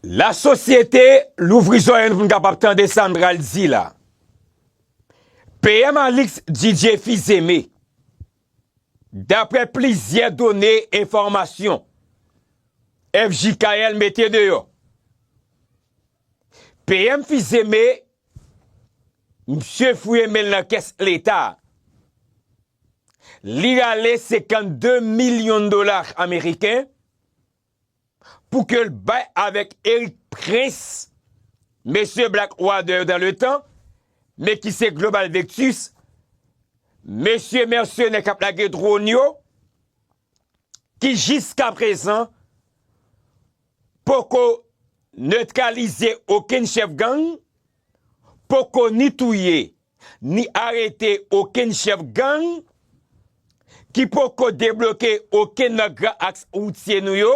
La sosyete louvri zòrèy nou pou n kapab tande sa n pral di la. PM Alix Didier Fils-Aimé, daprè plizyè done enfòmasyon FJKL mete deyò, PM Fils-Aimé, msye fouye men l nan kès leta, li rale 52 milyon dola ameriken, Pou ke l bay avèk Erik Prince, mesye Black Water yo dan le tan, men ki se Global Vectus, mesye mèsenè k ap lage dron yo, ki jiska prezan poko netralize okenn chèf gang, poko ni touye. ni arete okenn chèf gang ki poko debloke okenn nan gran aks woutye nou yo,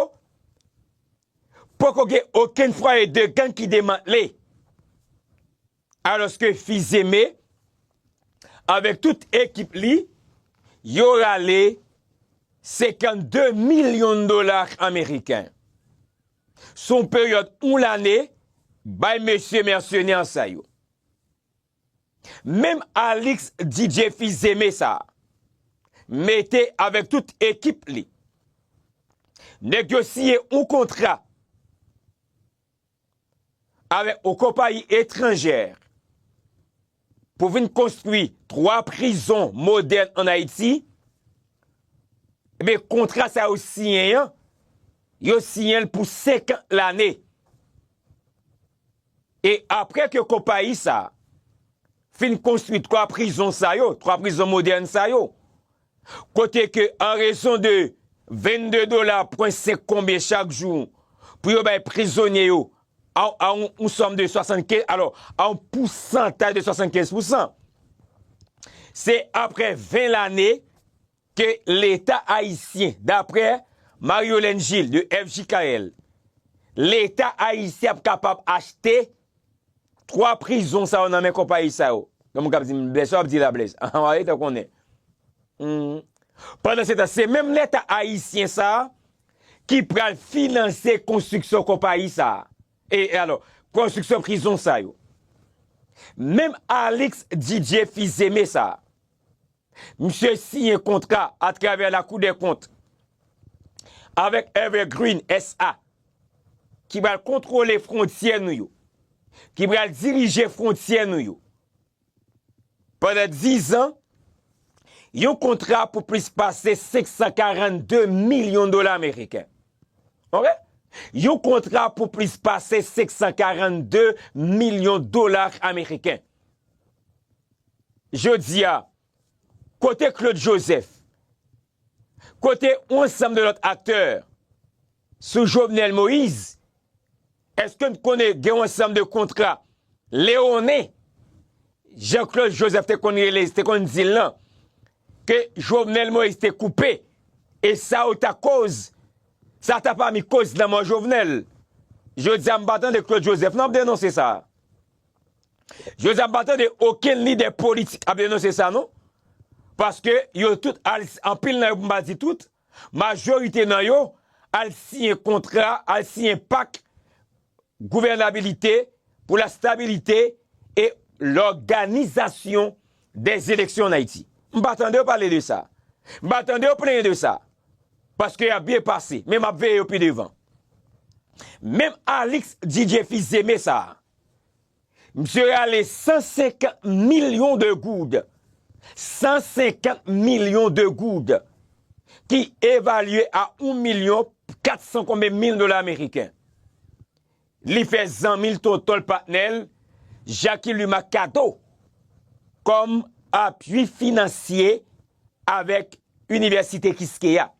poko gen okenn fwaye de gang ki demantle. Alòske Fils-Aimé avèk tout ekip li yo rale 52 milyon dola ameriken sou yon peryòd yon lane bay mesye mèsenè sa yo. Menm Alix DJ Fils-Aimé sa a mete avèk tout ekip li. Nèg yo siyen yon kontra avèk yon konpayi etranjè pou vin konstwi 3 prizon modèn an Ayiti. Ebyen kontra sa yo siyen an, yo siyen l pou 50 lane. E apre ke konpayi sa a fin konstwi 3 prizon sa yo, 3 prizon modèn sa yo, kote ke an rezon de 22 dola pwen 5 konbyen chak jou pou yo bay prizonye yo a yon sòm de 75, alò a yon pousantaj de 75 pousan, se apre 20 lane, ke leta ayisyen, daprè Mariolène Gilles de FJKL, leta ayisyen ap kapab achte 3 prizon sa yo nan men konpayi sa yo. Gen moun k ap di m, Blèz, sa w ap di la Blèz? An an, leta konnen. Hum. Pandansetan, se menm leta ayisyen sa a ki pral finanse konstriksyon konpayi sa a. E alò, konstriksyon prizon sa yo. Menm Alix Didier Fils-Aimé sa a, Misye siyen kontra atravè Lakou dèkont avèk Evergreen SA ki pral kontwole fwontyè nou yo, ki pral dirije fwontyè nou yo pandan dizan, yon kontra pou plis pase 542 milyon dola meriken. Ok? Yon kontra pou plis pase 542 milyon dola ameriken. Jodi a, kote Claude Joseph? Kote yon ansanm de lòt aktè sou Jovenel Moïse? Eske n konnen gen yon ansanm de kontra lewonnen, jan Claude Joseph te konn rele, te konn di l lan, ke Jovenel Moïse te koupe, e sa yo ta koz, sa ta pami koz lanmò Jovenel? Jodi a m pa tande Claude Joseph nan ap denonse sa. Jodi a m pa tande okenn lidè politik ap denonse sa non. Paske yo tout al, anpil nan yo pou m pa di tout, majorite nan yo al siyen kontra, al siyen pak gouvènabilite pou la stabilite e lòganizasyon dè eleksyon an Ayiti. M pa tande yo pale de sa. M pa tande yo plenyen de sa. Paske y ap byen pase. Men m ap veye yo pi devan. Menm Alix DJ fils Aimé sa a. Msye rale 150 milyon de goud, 150 milyon de goud, ki evalye a 1 milyon 400 konbe mil dola ameriken. Li fè zanmi l, tonton l, patnè l, Jacky Luma kado kòm apui finansye avèk Inivèsite Kiskeya.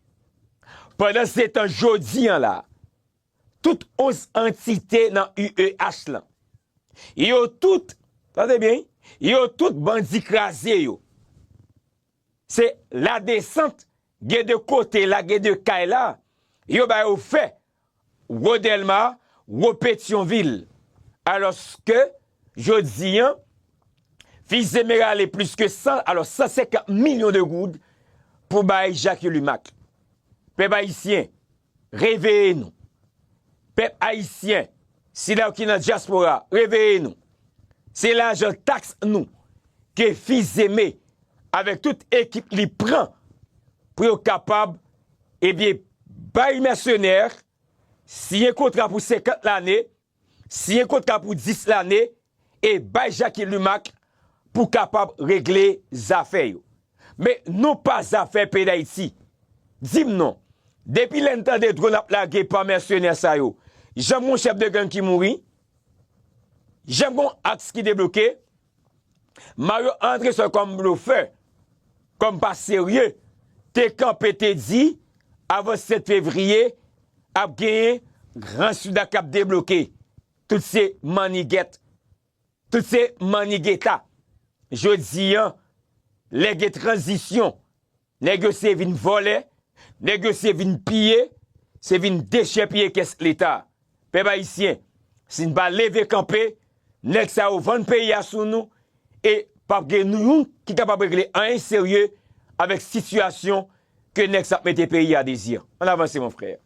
Pandansetan jodi an la, tout 11 antite nan UEH lan. Yo tout, tande byen wi, yo tout bandi kraze yo. Se la desant gen de kote la, gen de kay la, yo ba yo fè Wo Dèlma, Wo Petyonvil. Alos ke jodi an, Fils Zemerale plis ke 100, alos 150 milyon de goud pou bay Jacques Yulumack. Pèp Ayisyen, Reveye nou! Pèp Ayisyen, sila yo ki nan dyaspora, reveye nou! Se lajan taks nou ke Fils-Aimé avèk tout ekip li pran pou yo kapab, ebyen, bay mèsenè, siyen kontra pou 50 lane, Siyen kontra pou 10 lane e bay Jacky Lumac pou kapab regle zafè yo. Men non pa zafè peyi Dayiti. Dim non, depi lè n tande dronn ap lage pa mèsenè sa yo, janm gon chèf de gang ki mouri, janm gon aks ki debloke, Mario antre sèl kòm blofè, kòm pa serye, te kanpe te di avan 7 fevriye ap genyen gran souda kap debloke. Tout se mannigèt. Tout se mannigeta. Jodi an, lè gen tranzisyon. Nèg yo se vin vòlè, nèg yo se vin piye, se vin dechèpiye kès leta. Pèp ayisyen, si n pa leve kanpe, nèg sa yo vann peyi a sou nou e pap gen nou youn ki kapab regle anyen serye avèk sitiyasyon ke nèg sa ap mete peyi a dezir. An avanse mon frère.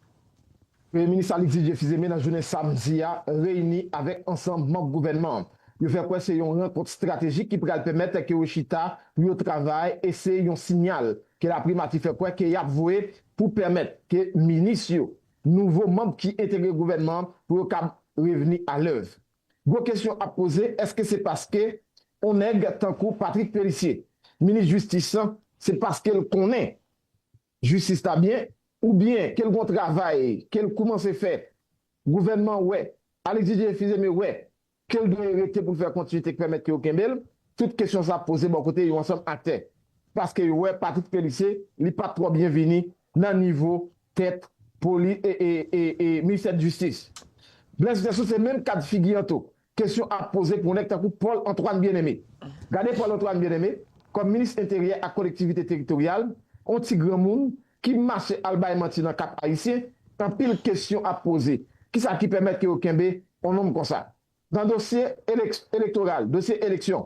Premye Minis Aly Didier Fils-Aimé nan jounen samdi a reyini avèk ansanm manb gouvènman an. Yo fè kwè se yon rankont estratejik ki pral pèmèt ke yo chita pou yo travay e se yon sinyal ke laprimati fè kwè ke yap voye pou pèmèt ke minis yo, nouvo manb ki entegre gouvènman an, pou yo kab revni a lèv. Gwo kesyon ap poze, eske se paske on nèg tankou Patrick Pellicier, minis jistis lan, se paskel konnen. Jistis ta byen ou byen kel gon travay kel koumanse fè gouvènman wè Alix Didier Fils-Aimé wè kel dwe rete poul fè kontinite k pèmèt ke yo kenbel tout kesyon sa ap poze bò kote yon ansanm aktè paske yo wè Patrick Phélicé li pat twò byen vini nan nivo tèt poli e e e e ministè jistis Blaise Russel se menm kad figi an tou Kesyon ap poze pou nèg tankou Paul Antoine Bien-Aimé. Gade Paul Antoine Bien-Aimé kòm minis enteryè ak kolektivite teritoryal, on ti granmoun ki mache al bay manti nan Kap Ayisyen, anpil kesyon ap poze, ki sa ki pèmèt ke yo kenbe on nonm konsa? Nan dosye elektoral, dosye eleksyon,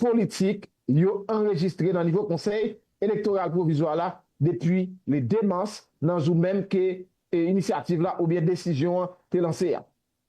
politik yo anrejistre nan nivo Konsèy Elektoral Pwovizwa la depi le 2 mas nan jou menm ke inisyativ la oubyen desizyon an te lanse a.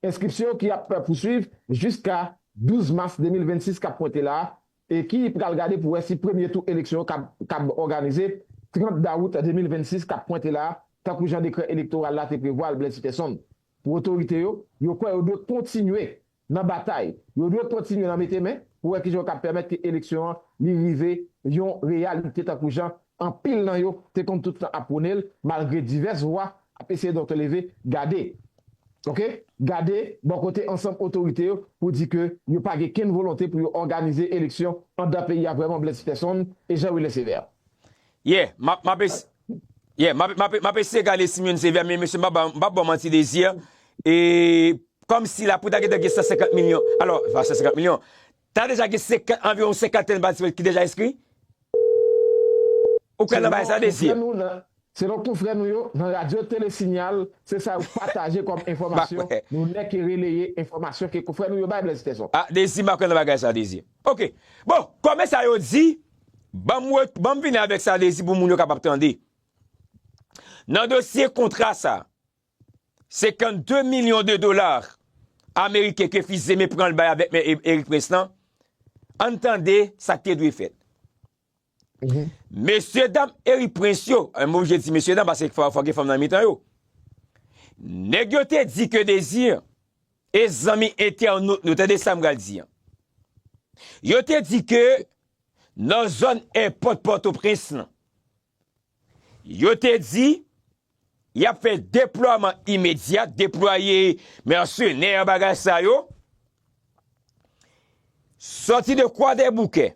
Enskripsyon ki ap pouswiv jiska 12 mas 2026 k ap pwente la a e ki pral gade pou wè si premye tou eleksyon yo kab òganize 30 dawout 2026 k ap pwente la a tankou jan dekrè elektoral la te prevwa l Bled Sitèson pou otorite yo yo kwè yo dwe kontinye nan batay. Yo dwe kontinye nan mete men pou wè kijan yo kab pèmèt ke eleksyon an li rive yon reyalite tankou jan anpil nan yo te konn tout tan ap pwone l malgre divès vwa ap eseye donk leve gade ok gade bò kote ansanm otorite yo pou di ke yo pa gen kenn volonte pou yo òganize eleksyon andan peyi a vrèman Blaise Peterson e Jean Wilner Sévère. Yeah map map ese yeah map map map eseye gade si m jwenn CV a men mesye m pap m pap baw manti Desir e kòmsi la pou ta gentan gen 150 milyon alò pa 150 milyon ta deja gen 50 anviwon senkantèn patisipan ki deja enskri ou kwè nan bagay sa Desir? Selon konfrè nou yo nan radyo Tele Sinyal se sa yo pataje kòm enfòmasyon nou nèke releye enfòmasyon ke konfrè nou yo bay Blaise Tezon. Ah Desir m pa kwè nan bagay sa Desir ok bon kòmè sa yo di Banm vini avèk sa Dezi pou moun yo kapab tande. Nan dosye kontra sa, 52 milyon de dola ameriken ke Fils Aimé pran l bay avèk Me Erik Prince lan, ann tande sa k te dwe fèt. Mesye dam Erik Prince yo, m oblije di mesye dam paske fòk gen fanm nan mitan yo, nèg yo te di ke Désir E zanmi entènot nou, tande sa m pral di an. Yo te di ke nan zòn èpòt Pòtoprens lan, yo te di y ap fè deplwaman imedyat, deplwaye mèsenè bagay sa yo, sòti de Kwadèboukè,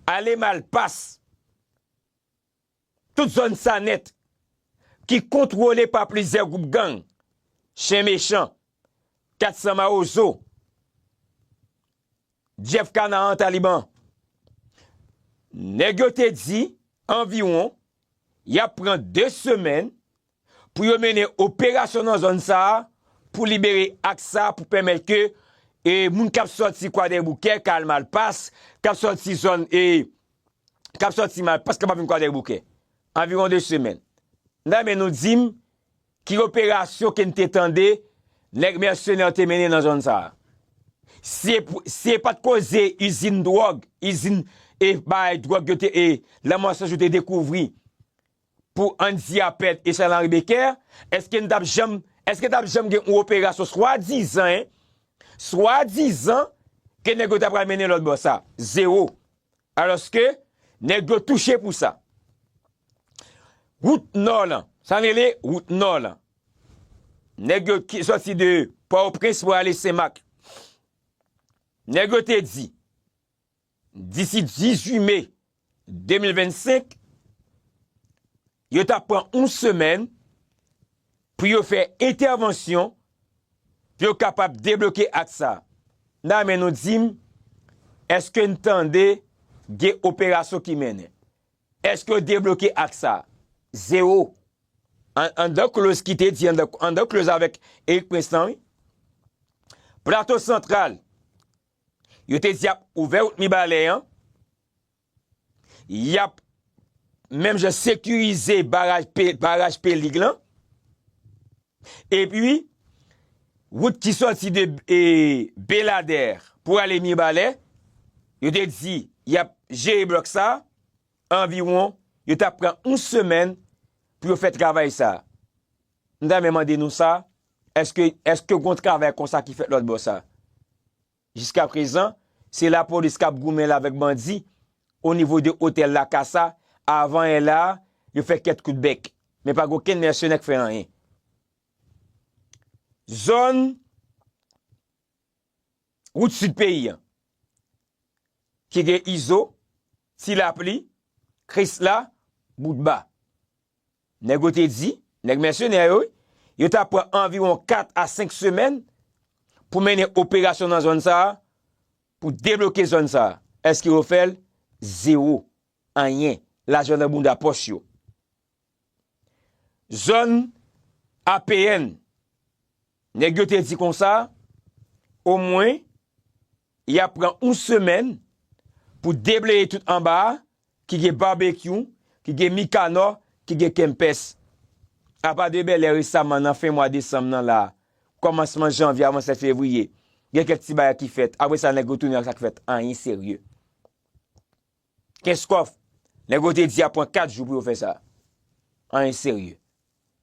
ale Malpas. Tout zòn Sanèt ki kontwole pa plizyè gwoup gang, Chen Mechan, 400 Mawozo, Jeff Canaan Taliban, nèg yo te di anviwon y ap pran 2 semèn pou yo mennen operasyon nan zòn sa a pou libere aks sa a pou pèmèt ke moun k ap sòti Kwadèboukè ka al Malpas, k ap sòti zòn e, k ap sòti Malpas kapab vin Kwadèboukè. Anviwon 2 semèn. M ta renmen nou di m ki operasyon ke n te tande nèg mèsenè yo te mennen nan zòn sa a. Si e pou, si e pa t koze izin dwòg, izin e bay dwòg yo te e, lanmò san jou te dekouvri pou Andy Harpert e Charles Henri Becker, èske n t ap janm, èske t ap janm gen yon operasyon swadizan, hein, swadizan ke nèg yo ta pral mennen lòt bò sa? Zewo. Alòske, nèg yo touche pou sa. Wout Nò lan, sa n rele Wout Nò lan, nèg yo ki sòti de Pòtoprens pou ale Senmak, nèg yo te di, Disi 18 me 2025, yo ta pran yon semèn pou yo fè entèvansyon pou yo kapab debloke ak sa. Nan men nou di m, eske n tande gen operasyon ki mennen? Eske yo debloke ak sa? Zewo. Anndan kloz ki te di, anndan kloz avèk Erik Prince lan wi. Plato Santral, Yo te di yap ouvè wout Mibalè an, yap menm jan sekirize baraj Pelig lan, epi wout ki soti de Beladèr pou ale Mibalè, yo te di yap jere blòk sa, anviwon yo tap pran yon semèn pou yo fè travay sa. M ta renmen mande nou sa, eske eske gon travay konsa ki fèt lòt bò sa? Jiska prezan, se lapolis k ap goumen la avèk bandi o nivo de otèl la kasa, avan yè la a, yo fè kèt kout bèk, men pa gen okenn mèsenè k fè anyen. Zòn wout sid peyi an, ki gen Izo, Ti Lapli, Krisla, Boutba. Nèg yo te di, nèg mèsenè yo wi, yo ta pran anviwon 4 a 5 semèn pou mennen operasyon nan zòn sa a, pou debloke zòn sa a. Èske yo fè l? Zewo. Anyen. Lajan nan bounda pòch yo. Zòn APN, nèg yo te di konsa, omwen, Y ap pran yon semèn pou debleye tout anba a ki gen Barbecue, ki gen Mikanò, ki gen Kempès. Apa de Bèlè resaman nan fen mwa desanm nan la a, kòmansman janvye avansè fevriye, gen kèk ti bagay ki fèt, apre sa nèg yo tounen ak sa k fèt, anyen serye. Kenskof, nèg yo te di ap pran 4 jou pou yo fè sa. Anyen serye.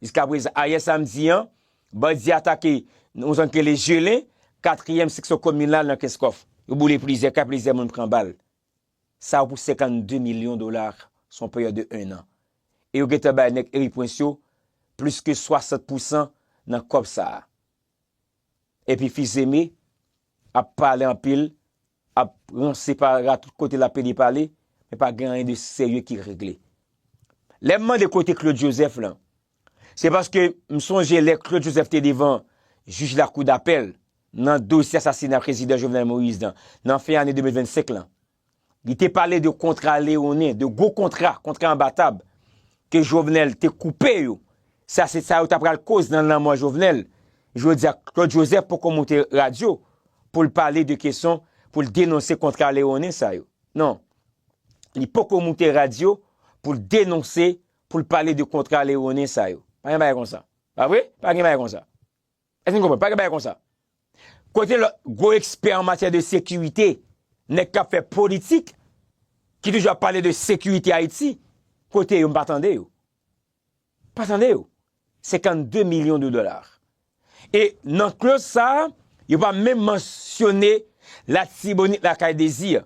Jiskaprezan, ayè samdi an, bandi atake yon zòn ki rele Jelen, katriyèm seksyon kominal nan Kenskof. Yo boule plizyè kay, plizyè moun pran bal. Sa yo pou 52 milyon dola sou yon peryòd de 1 an. E yo gentan bay nèg Eri Pwens yo plis ke 60 pousan nan kòb sa a. Epi fils aimé ap pale anpil ap ranse pa ra tout kote lap pede pale men pa gen anyen de serye ki regle lèm mande kote Claude Joseph lan se paske m sonje lè Claude Joseph te devan jij lakou dapèl nan dosye asasina prezidan Jovenel Moïse lan nan fen ane 2025 lan. Li te pale de kontra leonen, de gwo kontra, kontra anba tab, ke Jovenel te koupe yo. Sa se sa yo ta pral koz nan lanmò Jovenel. Jodi a, Claude Joseph poko moute radyo pou l pale de keson, pou l denonse kontra leonen sa yo. Non. Li poko moute radyo pou l denonse, pou l pale de kontra leonen sa yo. Pa gen bagay konsa. Pa vre? Pa gen bagay konsa. Èske nou konprann? Pa gen bagay konsa. Kote lòt gwo ekspè an matyè de sekirite, nèg k ap fè politik, ki toujou ap pale de sekirite Ayiti, kote yo? M pa tande yo. M pa tande yo. 52 milyon de dola. E nan kloz sa a, yo pa menm mansyone Latibonit Lakay Dezi a.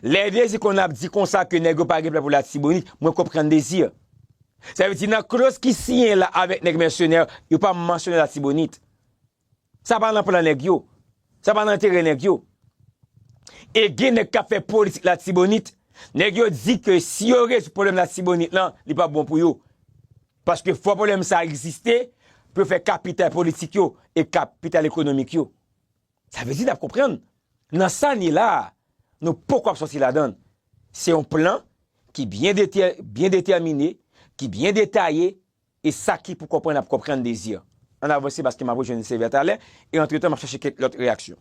Lè Désir konn ap di konsa ke nèg yo pa gen plan pou Latibonit, mwen konprann Désir. Sa vle di nan kloz ki siyen la avèk nèg mèsenè yo pa mansyone Latibonit. Sa pa nan plan nèg yo. Sa pa nan enterè nèg yo. E gen nèg kap fè politik Latibonit, nèg yo di ke si yo rezoud pwoblèm Latibonit lan, li pap bon pou yo. Paske fò pwoblèm sa egziste pou yo fè kapital politik yo e kapital ekonomik yo. Sa vle di nap konprann nan sa n ye la a nou poko ap sòti ladan l. Se yon plan ki byen detè, byen detèmine, ki byen detaye e sa ki pou konprann ap konprann Désir. Ann avanse paske map rejwenn Sévère talè e antretan map chache kèk lòt reyaksyon.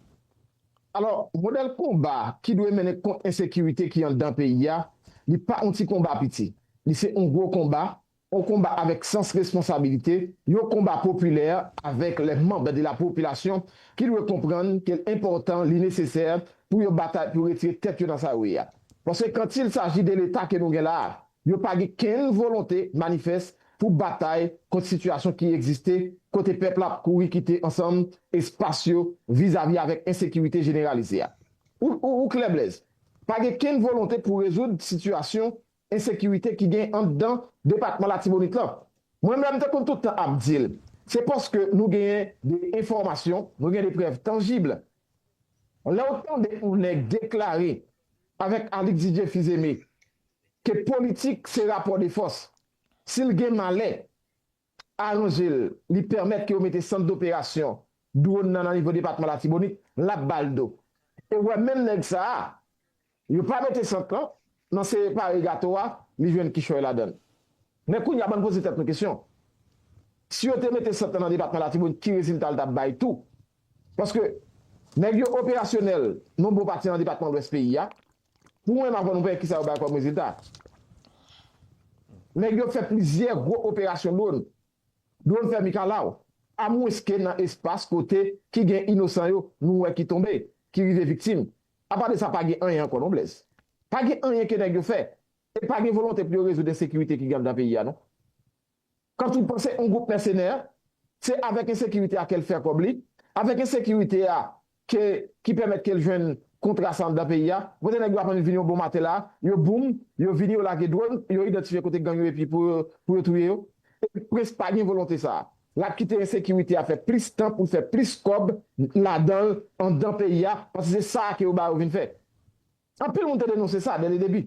Alò, modèl konba ki dwe mennen kont ensekirite ki anndan peyi a, li pa on ti konba piti. Li se on gwo konba On konba avèk sans responsabilite, yon konba popilè avèk lè manb de la popilasyon ki dwe konprann ke l enpòtan, li nesesè pou yo batay pou retire tèt yo nan sa yo ye a. Paske quand il s'agit de l'Etat ke nou gen la a, yo pa gen kenn volonte manifès pou batay kont sitiyasyon ki egziste kote pèp la ap kouri kite ansanm espas yo vizavi avèk ensekirite jeneralize a. Ou klè Blèz? Pa gen kenn volonte pou rezoud sitiyasyon ensekirite ki gen anndan depatman Latibonit lan. Mwen menm m te konn tout tan ap di l, se paske nou genyen de enfòmasyon, nou gen de prèv tanjib. Lè w tande yon nèg deklare avèk Alix Didier Fils-Aimé ke politik se rapò de fòs, si l gen malè, aranje l, li pèmèt ke yo mete sant doperasyon dwòn nan nan nivo depatman Latibonit, l ap ba l do. E wè menm nèg sa a, yo pa mete sant lan, nan se pare gato a, li jwenn kichòy ladan l. Men kounye a ban n poze tèt nou kesyon, si yo te mete sant lan nan depatman Latibonit ki rezilta l t ap bay tou? Paske nèg yo operasyonèl nan yon bon pati nan depatman Lwès peyi a, Pou mwen, m ap tann pou m wè kisa yo bay kòm rezilta. Nèg yo fè plizyè gwo operasyon dwòn. Dwòn fè mikalaw. Amwenske nan espas kote ki gen inosan yo nou wè ki tonbe, ki rive viktim. Apa de sa pa gen anyen ankò non Blèz. Pa gen anyen ke nèg yo fè. E pa gen volonte pou yo rezoud ensekirite ki gen anndan peyi a non. Kant li panse yon gwoup mèsenè, se avèk ensekirite a ke l fè kòb li, avèk ensekirite a ke ki pèmèt ke l jwenn kontra sa anndan peyi a. Kote nèg yo aprann vini yon bon maten la, yo boum, yo vini yo lage dwòn, yo idantifye kote gang yo epi pou yo pou yo touye yo. Epi Prince pa gen volonte sa a. L ap kite ensekirite a fè plis tan pou l fè plis kòb ladan l, anndan peyi a, paske se sa a ke yo ba yo vin fè. Anpil moun te denonse sa dè le debi.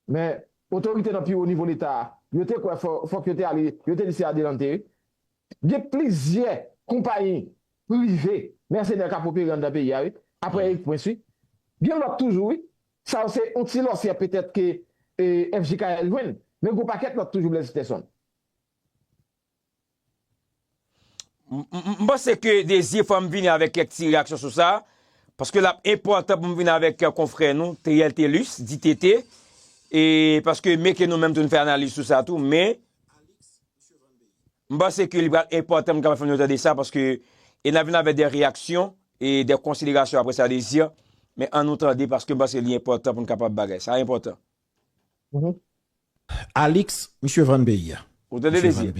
Men, otorite nan pi wo nivo Leta a, yo te kwè fòk yo te ale, yo te lese adelante. Gen plizyè konpayi prive mèsenè k ap opere anndan peyi a wi, aprè Erik Prince wi. Gen lòt toujou wi. Sa yo se yon ti lòsyè petèt ke FJKL jwenn, men gen yon pakèt lòt toujou Blaise Peterson. M panse ke Désir fò m vini avèk kèk ti reyaksyon sou sa, paske l ap enpòtan pou m vini avèk konfrè nou Theriel Thelus, di TT, e paske meke nou menm tou n fè analiz sou sa tou, men, m panse ke li pral enpòtan m kapab fè nou tande sa, paske e n ap vini avèk de reyaksyon e de konsiderasyon apre sa Désir, men an nou tande paske m panse li enpòtan pou n kapab bagay sa, sa enpòtan. Alix misye vann peyi a. Ou tande dezi.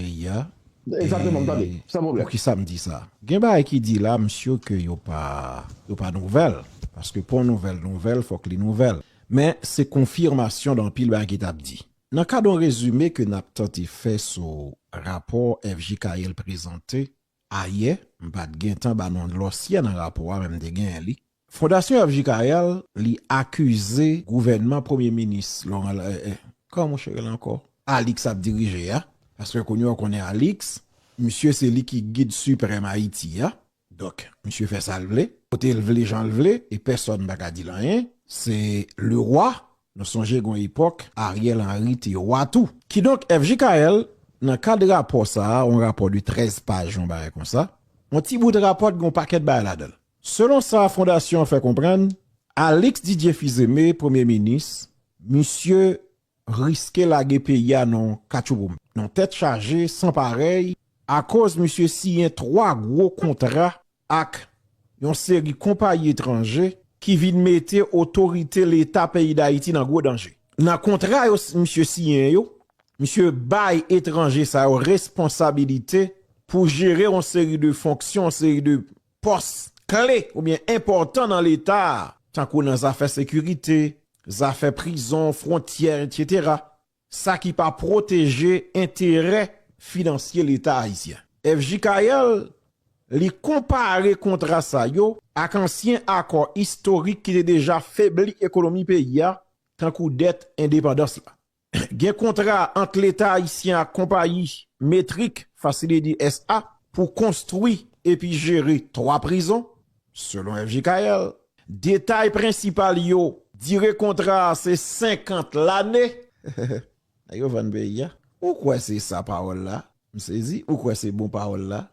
Exactement m tande san problème. Poukisa m di sa? Gen bagay ki di la m sure ke yo pa yo pa nouvèl paske pou yon nouvèl nouvèl fòk li nouvèl men se konfirmasyon de anpil bagay ki tap di. Nan kad yon rezime ke nap tante fè sou rapò FJKL prezante ayè, m pat gentan ba nou lòsyè nan rapò a men m te genyen li, Fondasyon FJ Carel li akize gouvènman premye minis Laurent eh kòman mouche rele ankò? Alix ap dirije a, paske kounye w konnen Alix misye se li ki gid siprèm Ayiti a, donk misye fè sa l vle, kote l vle jan l vle e pèsòn pa ka di l anyen, se le roi, nou sonje gon epòk Ariel Henry te roi tou. Kidonk FJ Carel nan kad rapò sa a, on rapò de 13 paj on bagay konsa, on ti bout rapò t gen on pakèt bagay ladan l. Selon sa fondasyon an fè konprann, Alix Didier Fils-Aimé, premye minis, misye riske lage peyi a nan katchouboum, nan tèt chaje san parèy akoz misye siyen 3 gwo kontra ak yon seri konpayi etranje ki vin mete otorite leta peyi Dayiti nan gwo danje. Nan kontra yo misye siyen yo, misye bay etranje sa yo responsabilite pou jere yon seri de fonksyon, yon seri de. pòs kle oubyen enpòtan nan leta a, tankou nan zafè sekirite, zafè prizon, fwontyè etc. Sa ki pa pwoteje enterè finansye leta ayisyen. FJKL, li konpare kontra sa yo ak ansyen akò istorik ki te deja febli ekonomi peyi a, tankou dèt endepandans la. Gen kontra ant Leta ayisyen ak konpayi Metric Facility SA. pou konstwi epi jere 3 prizon, selon FJKL. Detay prensipal yo, dire kontra a se 50 lane. Nèg yo vann peyi a. Ou kwè se sa pawòl la? M sezi. Ou kwè se bon pawòl la?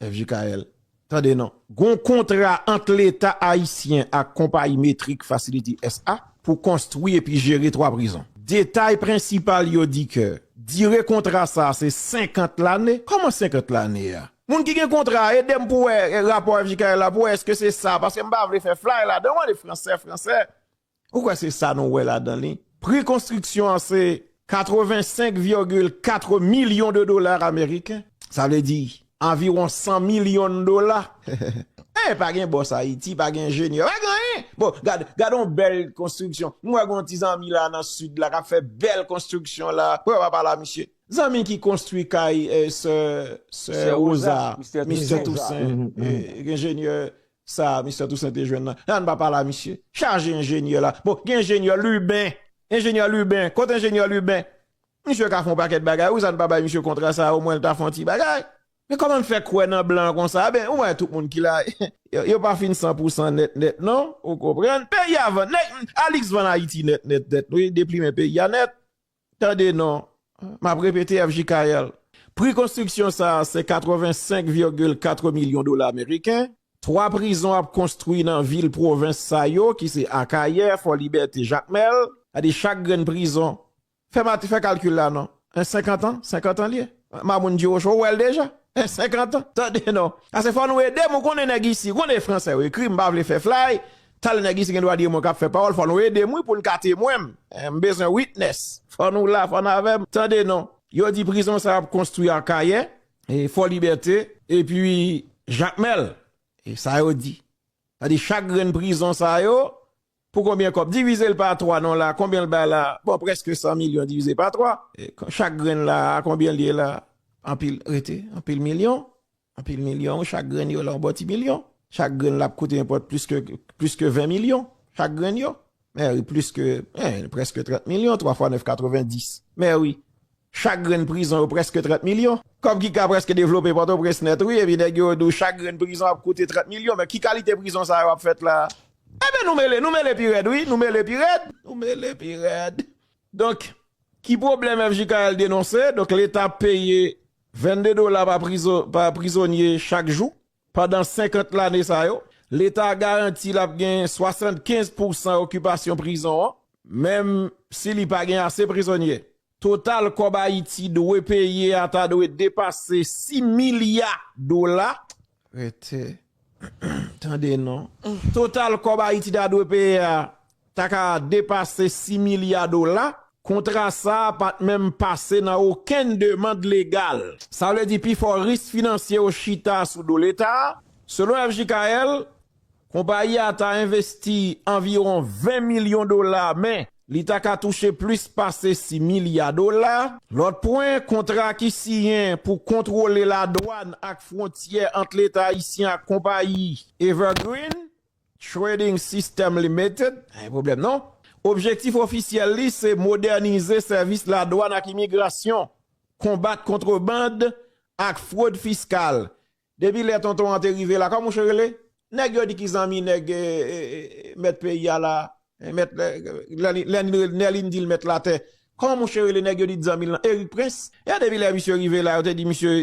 FJKL, Tande non. Gon kontra ant Leta ayisyen ak konpayi Metric Facility SA pou konstwi epi jere 3 prizon. Detay prensipal yo di ke dire kontra sa se 50 lane. Kòman 50 lane a? Moun ki gen kontra a, ede m pou wè rapò FJKL la pou wè eske se sa, paske m pa vle fè flay ladan w, ale fransè fransè. Ou kwè se sa nou wè ladan li? Pri konstriksyon an se 85,4 milyon de dola ameriken, sa vle di anviwon 100 milyon dola. Hey, pa gen bòs Ayiti, pa gen enjenyè, pa gen anyen! Bon, gad, gad yon bèl konstriksyon. M wè gen yon ti zanmi la nan Sid la k ap fè bèl konstriksyon la. Wè, w ap ala misye. Zanmi ki konstwi kay sè, sè Woza, Mistè Tousen, enjenyè Sa Mister Toussaint te jwenn nan Ann pa pale a misye. Chaje enjenyè la. Bon gen enjenyè liben. Enjenyè liben. Kot enjenyè liben. Misye ka fè yon pakèt bagay wi sa n pa bay misye kontra sa omwen l ta fè yon ti bagay. Men kòman n fè kwè nan blan konsa a ben ou wè tout moun ki la yo pa fin san pou san nèt nèt non ou konprann. Peyi a vann. Nèg Alix vann Ayiti nèt nèt nèt wi deplimen peyi a nèt. Tande non, m ap repete FJKL, pri konstriksyon sa a se 85 virgil 4 milyon dola meriken, 3 prizon ap konstri nan vil pwovens sa yo ki se Akayè, Fòlibète, Jakmèl, gade chak grenn prizon, fè mati fè kalkil la non, 1 50 an, 50 an l ye, Mamoun Diwocho ou wè l deja, 1 50 an, tande non, ase fò nou ede m ou konnen nèg isi, ou konnen e fransè yo ekri m pa vle fè flay, Tal nèg isi gen dwa di e mwen kap fè pawòl fò nou edem wi poun ka temwenm m bezwen witness fò nou la fò n avèm tande non. Yo di prizon sa ap konstwi akayè, fò libète epi jakmèl e sa yo di sa di chak grenn prizon sa yo pou konbyen kòb divizel pa 3 non la konbyen l bay la bon prèske 100 milyon divize pa 3 chak grenn la konbyen l ye la anpil rete anpil milyon Anpil milyon, chak grenn yo la yon bon ti milyon. Chak grenn la ap koute yon pòt plis ke, plis ke 20 milyon, chak grenn yo. Mè wi, plis ke, en, prèske 30 milyon, 3 fwa 9, 90. Mè wi, chak grenn prizon yo prèske 30 milyon. Kòb ki ka prèske devlope Pòtoprens nèt wi, epi nèg yo di w chak grenn prizon ap koute 30 milyon. Mè ki kalite prizon sa yo ap fèt la? Enben nou mele, nou mele pi rèd wi, nou mele pi rèd. Nou mele pi rèd. Donk, ki pwoblèm FJKL denonse? Donk, Leta ap peye 22 dola pa prizonye chak jou, pandan 50 lane sa yo. Leta garanti l ap gen 75 pousan okipasyon prizon an, menm si li pa gen ase prizonye. Total kòb Ayiti dwe peye a ta dwe depase 6 milya dola, Rete tande non. Total kòb Ayiti ta dwe peye a ta ka depase 6 milya dola. Kontra sa a pa t menm pase nan okenn demand legal. Sa vle di pi fò ris finansye yo chita sou do Leta. Selon FJKL, Konpayi a ta envesti anviwon 20 milyon dola men li ta ka touche plis pase 6 milya dola. Lòt pwen, kontra ki siyen pou kontwole ladwàn ak fwontyè ant Leta ayisyen ak konpayi Evergreen Trading System Limited, objektif ofisyèl li se modènize sèvis ladwàn ak imigrasyon, konbat kontreband ak fwod fiskal Depi lè tonton an te rive la, kòm mouche rele? Nèg yo di ki zanmi nèg mèt peyi a la, mèt Nèlin di l mèt latè. Kòman mouche rele nèg yo di t zanmi l lan? Erik Prens. E depi lè misye rive la, yo te di misye,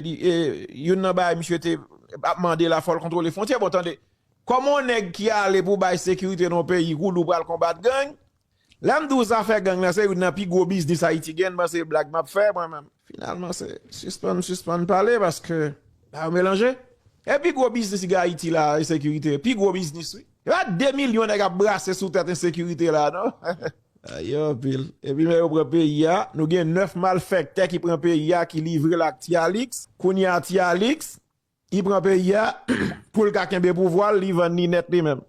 youn nan bagay misye te ap mande la fò l kontwole fwontyè. Bon tande, kòm on nèg ki ale pou bay sekirite nan on peyi kou li w pral konbat gang, Lèm di w zafè gang lan se youn nan pi gwo biznis Ayiti gen, ban se blag map fè mwen menm. Finalman se sispann sispann pale paske ba yo melanje. E pi gwo biznis ki gen Ayiti la ensekirite, pi gwo biznis wi. Se pa 2 milyon nèg ap brase sou tèt ensekirite la non. Sa ye anpil. Epi lè yo pran peyi a, nou gen 9 malfèktè ki pran peyi a ki livrel ak Ti Alix, kounya Ti Alix, Li pran peyi a poul ka kenbe pouvwa l li vann li nèt li menm.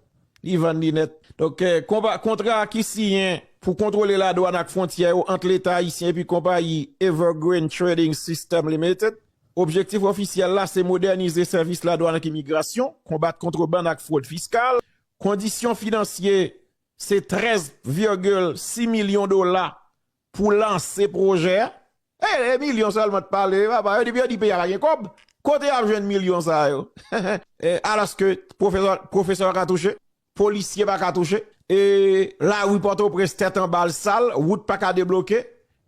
Li vann li nèt. Donk konpa kontra ki siyen pou kontwole ladwann ak fwontyè yo ant leta ayisyen epi konpayi Evergreen Trading System Limited. Objektif ofisyèl la se modènize sèvis ladwann ak imigrasyon, konbat kontrebann ak fwod fiskal. Kondisyon finansye se 13 virgil 6 milyon dola Pou lanse pwojè a. E e milyon sèlman t pale papa yo di yo di peyi a pa gen kòb kote yap jwenn milyon sa yo e alòske pwofesè pwofesè paka touche polisye paka touche e lari pòtoprens tèt anba l sal wout paka debloke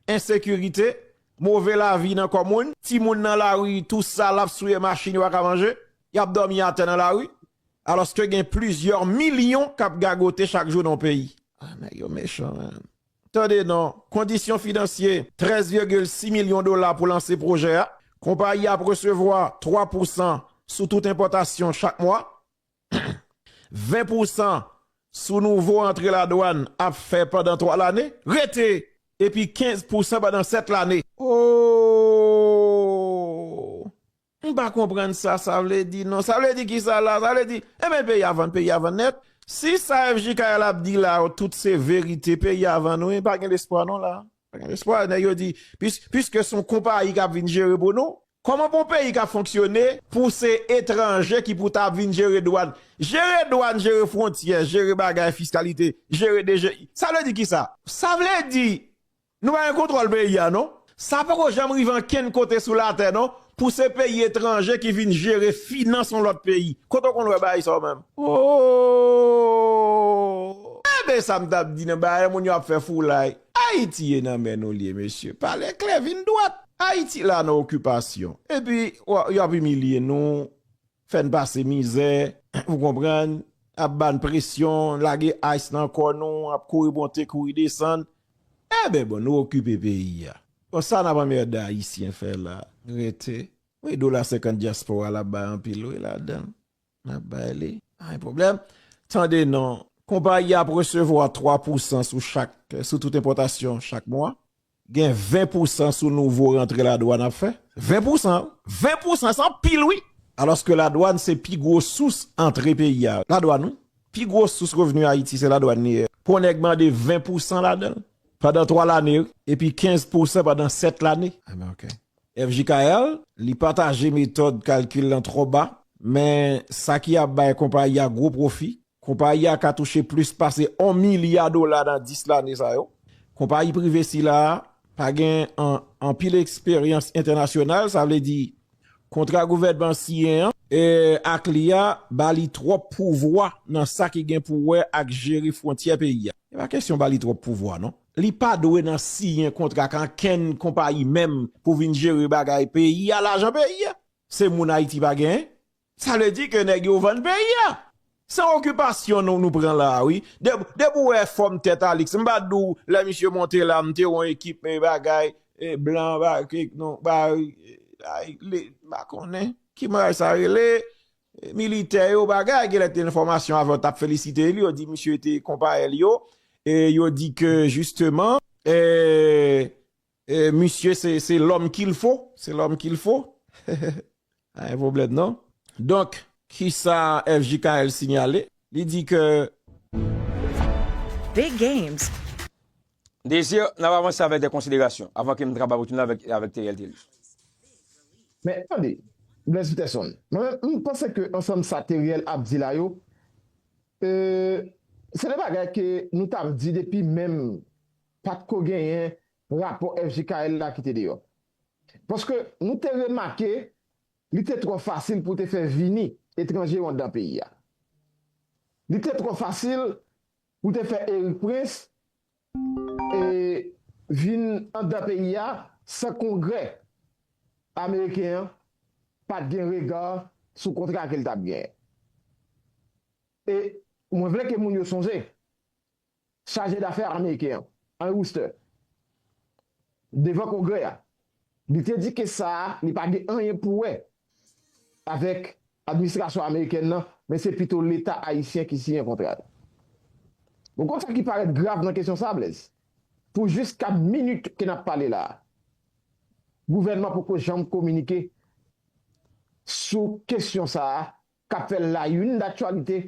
ensekirite move lavi nan kò moun timoun nan lari tou sal ap souye machin yo paka manje yap dòmi atè nan lari alòske gen plizyè milyon kap gagote chak jou nan yon peyi ah nèg yo mechan man. Tande non, kondisyon finansye, 13,6 milyon dola pou lanse pwojè a. Konpayi a ap resevwa 3 pousan sou tout enpòtasyon chak mwa. 20 pousan sou nouvo antre ladwann ap fè pandan 3 lane. Rete! Epi 15 pousan pandan 7 lane. Ooh! M pa konprann sa sa vle di non. Sa vle di kisa la? Sa vle di, enben peyi a vann, peyi a vann nèt. Si sa FJ Kayal ap di la yo tout se verite, peyi a vann wi, pa gen lespwa non la. Pa gen lespwa, nèg yo di, piske son konpayi kap vin jere pou nou, kòman pou yon peyi ka fonksyone pou se etranje ki pou ta vin jere dwàn, jere dwàn, jere fwontyè, jere bagay fiskalite, jere DGI. Sa vle di kisa? Sa vle di, Nou pa gen kontrol peyi a non. Sa poko janm rive ankenn kote sou latè non pou se peyi etranje ki vin jere finans yon lòt peyi. Kote w konn wè bagay sa w menm? Ooh! Enben sa m t ap di nan bagay moun yo ap fè foulay. Ayiti e nan men nou l ye mesye. Pale klè, vin dwat. Ayiti la nan okipasyon. Epi yo ap imilye nou. Fè n pase mizè, ou konprann, ap ba n presyon, lage ice nan kò nou, ap kouri monte, kouri desann. Enben bon, nou okipe peyi a. Bon, sa n ap anmède Ayisyen fè la? Rete. Wi, dola senkant dyaspora la bay anpil wi ladan l. N ap bay li. Pa gen pwoblèm. Tande non. Konpayi a ap resevwa 3 pousan sou chak, sou tout enpòtasyon chak mwa. Gen 20 pousan sou nouvo rantre ladwann ap fè? 20 pousan? 20 pousan se anpil wi! Alòske ladwann se pi gwo sous antre peyi a. Ladwann wi! Pi gwo sous revni Ayiti se ladwann li ye. Pou yon nèg mande 20 pousan ladan l pandan 3 lane epi 15 pousan pandan 7 lane. FJKL, Li pataje metòd kalkil lan twò ba, men sa ki ap bay konpayi a gwo pwofi, Konpayi a ka touche plis pase on milya dola nan 10 lane sa yo. Konpayi prive sila a pa gen anpil eksperyans entènasyonal, sa vle di kontra gouvènman siyen an ak li a ba li twòp pouvwa nan sa ki gen pou wè ak jere fwontyè peyi a. E pa kesyon ba li twòp pouvwa non. Li pa dwe nan siyen kontra ak ankenn konpayi menm pou vin jere bagay peyi a, lajan peyi a. Se moun Ayiti pa gen, Sa vle di ke nèg yo vann peyi a. Se okipasyon nou nou pran la wi. Depi w wè fòm tèt Alix, m pa di w lè misye monte la m te wè yon ekip bagay blan m pa konnen ki bagay sa rele militè yo bagay gen lè te nan fòmasyon avè yo t ap felisite li yo di misye te konpayèl yo yo di ke jisteman Misye se lòm kil fo, se lòm kil fo. Pa gen pwoblèm non. Donk, kisa FJKL sinyale? Li di ke. Desir, n ap avanse avèk de konsiderasyon, avan ke m trabay pou tounen avèk Theriel Thelus. Men, tande, Blaise Peterson, mwen menm, m panse ke ansanm sa Theriel ap di la yo, se de bagay ke nou t ap di depi menm. pa t ko genyen rapò FJKL la ki te deyò. Paske nou te remake li te twò fasil pou te fè vini etranje yo anndan peyi a. Li te twò fasil pou te fè Erik Prince vin anndan peyi a san Kongrè ameriken an pa t gen rega sou kontra ke l t ap genyen. E mwen vle ke moun yo sonje, Chaje dafè ameriken an, Henry Wooster, devan Kongrè a, li te di kes sa a li pa gen anyen pou wè avèk administrasyon amerikèn nan, men se pito leta ayisyen ki siyen kontra yo. Ou konn sa ki parèt grav nan kesyon sa a, Blaise? Pou jiska minit ke n ap pale la a, gouvènman poko janm kominike sou kesyon sa a k ap fè layoun daktyalite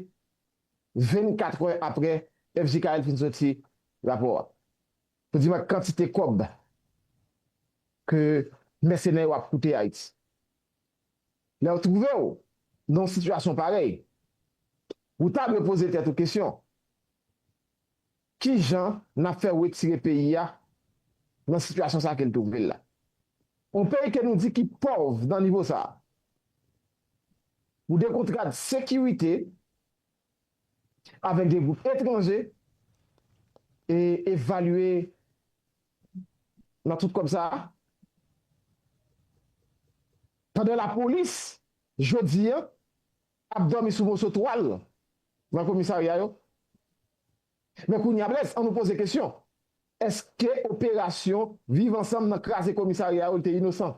24 è aprè fjkl fin soti rapò a pou di man kantite kòb ke mèsenè yo ap koute Ayiti. Lè ou twouve ou nan yon sitiyasyon parèy, ou ta dwe poze tèt ou kesyon, Ki jan n ap fè retire peyi a nan sitiyasyon sa a ke l twouve l la? On peyi ke nou di ki pòv nan nivo sa a, pou de kontrad sekirite avèk de gwoup etranje e evalye nan tout kòb sa a, pandan lapolis jodi an ap dòmi sou moso twal nan komisarya yo. Men kounye a Blaise, an nou poze kesyon, èske operasyon Viv ansanm nan kraze komisarya yo l te inosan?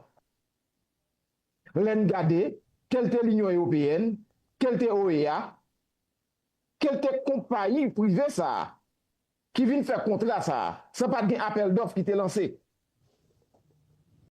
Lè n gade, ke l te Linyon Ewopeyèn, ke l te OEA, ke l te konpayi prive sa a ki vin fè kontra sa a san pa t gen apèl dòf ki te lanse,